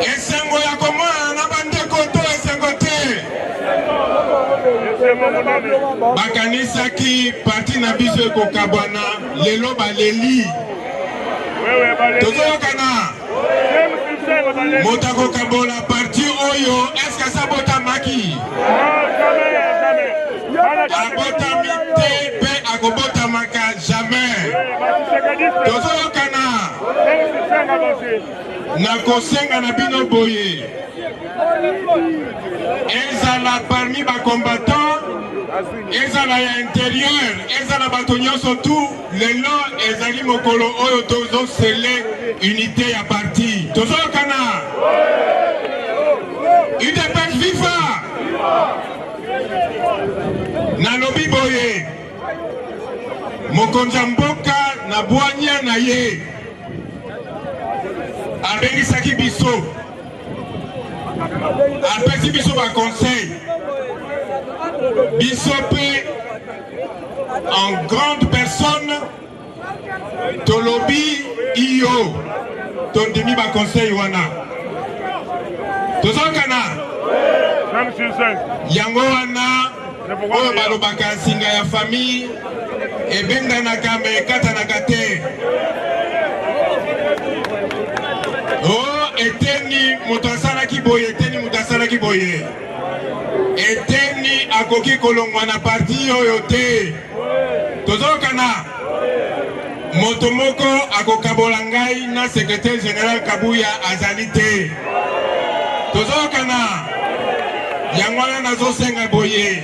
Esengo ya komonana na bandeko to esengo te. Bakanisaki parti na biso ekokabwana, lelo baleli. Tozoyokana moto akokabola parti oyo eske asabotamaki? abotami te mpe akobotamaka jamais tozoyoka nakosenga na bino boye ezala parmi bacombattant ezala ya interieur ezala bato nyonso tu lelo ezali mokolo oyo tozosele unité ya parti tozoyokana udps viva nalobi boye Mokonzi ya mboka na bwanya na ye abengisaki biso, apesi biso ba conseil, biso mpe en grande personne tolobi iyo tondimi ba conseil wana tozokana yango wana oyo balobaka nsinga ya famille ebendanaka ma ekatanaka te o oh, eteni moto asalaki boye eteni moto asalaki boye eteni akoki kolongwa na parti oyo te tozokana moto moko akokabola ngai na secretaire general kabuya azali te tozokana yango wana nazosenga boye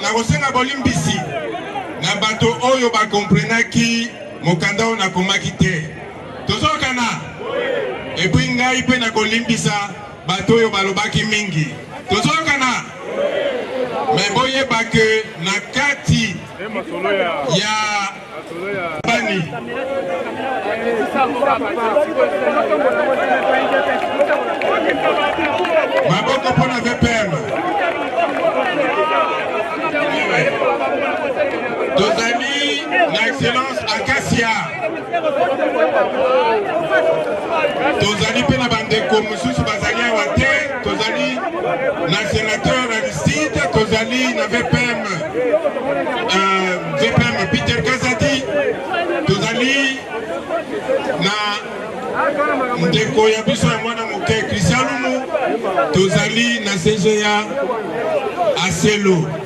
nakosenga bolimbisi na bato oyo bakomprenaki mokanda oyo nakomaki te tozokana epui ngai mpe nakolimbisa Bato oyo balobaki mingi, tozoyokana me boyeba ke na kati ya bani maboko mpo na vpm tozali na excellence akasia tozali mpe na bandeko mosusu bazali awa te tozali na senateur na lisite tozali na vpm euh, vpm peter kazadi tozali na ndeko ya biso ya mwana moke kristialumu tozali na cga aselo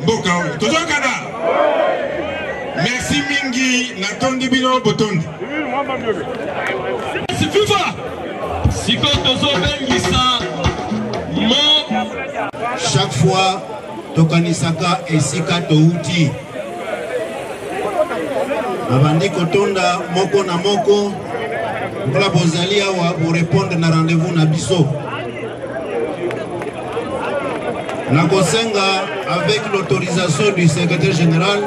mboka oyo tozoyokana merci mingi natondi bino botondi fifa sikoyo tozobengisa mo chaque fois tokanisaka esika touti babandi kotonda moko na moko mpola bozali awa borepondre na rendez-vous na biso nakosenga avec l'autorisation du secrétaire général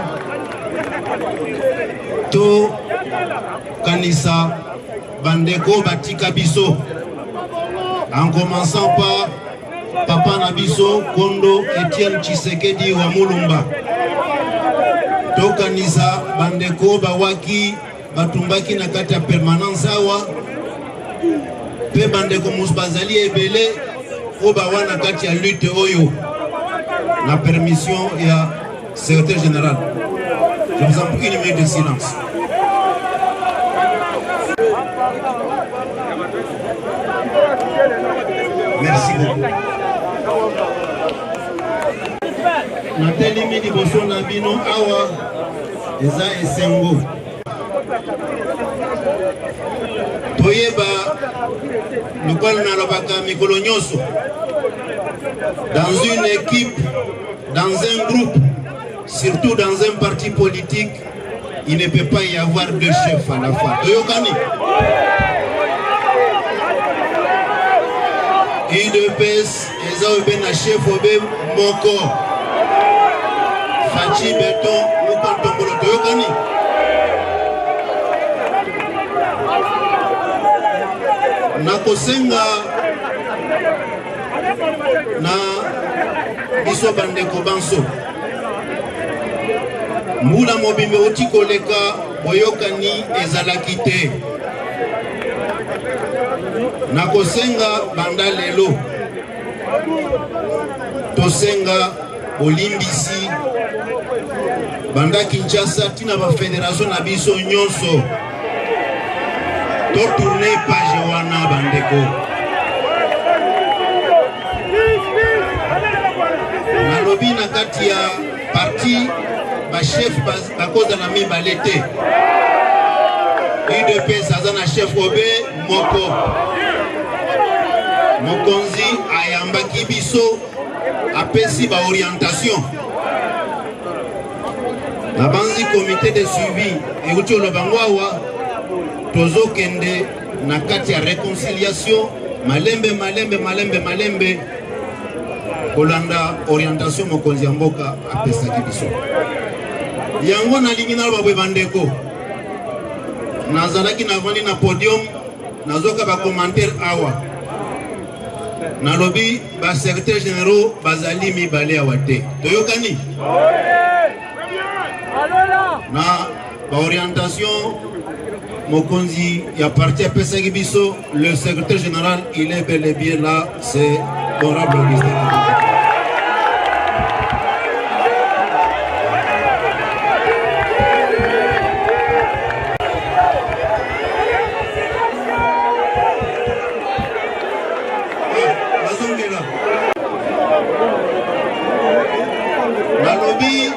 tokanisa bandeko batika biso en commençant par papa na biso kondo etienne tshisekedi wa mulumba tokanisa bandeko bawaki batumbaki na kati ya permanence awa mpe bandeko mosusu bazali ebele oyo bawa na kati ya lutte oyo na permission ya secrétaire général je vous en prie une minute de silence merci beaucoup natelemi liboso na bino awa eza esengo toyeba lokola nalobaka mikolo nyonso dans une équipe dans un groupe surtout dans un parti politique il ne peut pas y avoir deux chefs à la fois toyokani udps eza oyo mpe na chef obe moko faci beton moko ntombolo toyokani nakosenga na biso bandeko banso mbula mobimba euti koleka Boyokani ezalaki te. Nakosenga banda lelo tosenga bolimbisi banda Kinshasa tina ba federation na biso nyonso to tourne page wana bandeko. Nalobi na kati ya parti ba chef bakozala mibale te udps aza na chef obe moko mokonzi ayambaki biso apesi baorientation nabanzi komite de suivi euti oloba ngo awa tozokende na kati ya reconciliation malembe malembe malembe malembe kolanda orientation mokonzi ya mboka apesaki biso yango nalingi naloba boye bandeko nazalaki navandi na podium nazoka bacommentaire awa nalobi basecretaire généraux bazali mibale awa te toyokani na ba orientation mokonzi ya parti apesaki biso le secrétaire général il est bel et bien là c'est honorable augustin Nalobi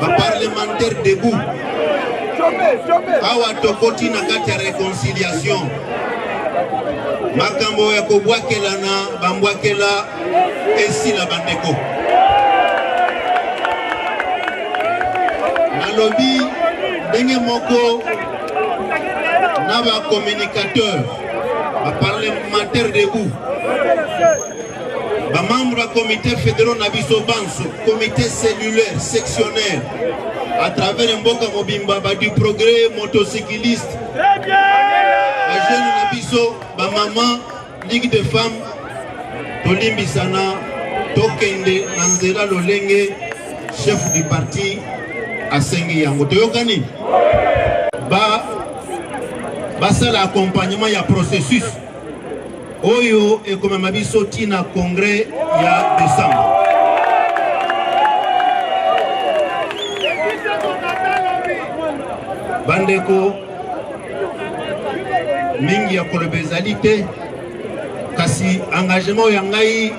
ba parlementaire debout awa tokoti na kati ya reconciliation makambo ya kobwakelana bambwakela esila bandeko nalobi ndenge moko na ba communicateur ba parlementaire debout Ba membres ya comité fédéraux na biso banso, comité cellulaire, sectionnaire, à travers mboka mobimba ba du progrès motocycliste. Très bien. Ba jeunes na biso, ba maman, ligue de femmes, tolimbisana tokende na nzela lolenge chef du parti asengi yango toyokani basala accompagnement ya processus oyo ekomema biso ti na congrès ya décembre. bandeko mingi ya koloba ezali te kasi engagement ya ngai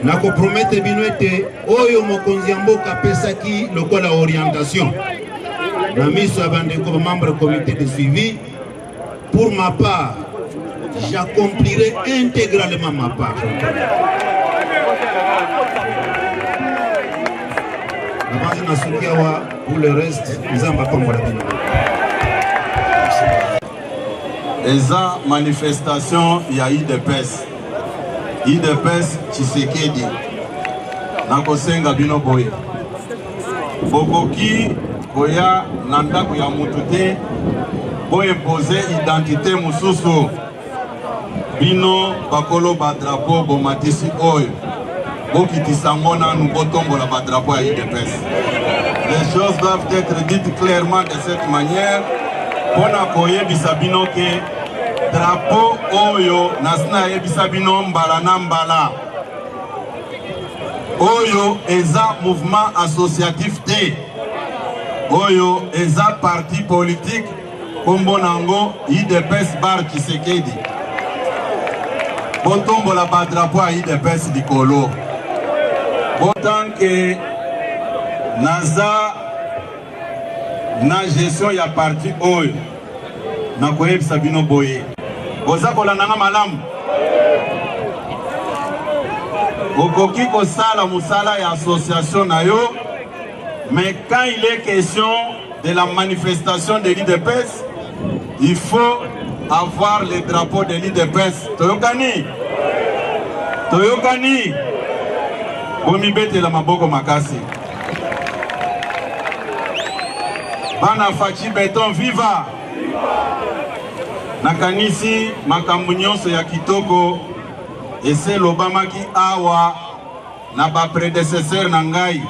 nakopromete bino ete oyo mokonzi ya mboka apesaki lokola orientation na miso ya bandeko bamembre comité de suivi Pour ma part, j'accomplirai intégralement ma part. Nabanzi na suki awa pour le reste nzambe apambola bino. Eza manifestation ya UDPS. UDPS Tshisekedi. Nakosenga bino boye. bokoki koya na ndako ya mutu te boimpose identite mosusu bino bakolo badrapo bomatisi oyo bokitisa yango nanu botombola badrapo ya udps les choses doivent être dites clairement de cette manière mpo na koyebisa bino ke drapo oyo nasi nayebisa bino mbala na mbala Oyo eza mouvement associatif te. Oyo eza parti politique kombo nango IDPS Bar Tshisekedi. Botombola ba drapeau ya IDPS likolo. Botanke naza na gestion ya parti oyo nakoyebisa bino boye boza kolanda nga malamu okoki kosala mosala ya association na yo mais quand il est question de la manifestation de l'idps il faut avoir le drapeau de l'idps toyokani toyokani bomibetela maboko makasi Bana Fachi Beton viva! Nakanisi makambo nyonso ya kitoko ese lobamaki awa na ba predecesseur na ngai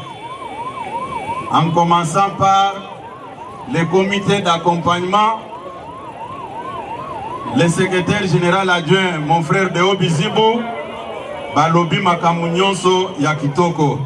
en commençant par le comité d'accompagnement le secrétaire général adjoint mon frère Deo Bizibu balobi makambo nyonso ya kitoko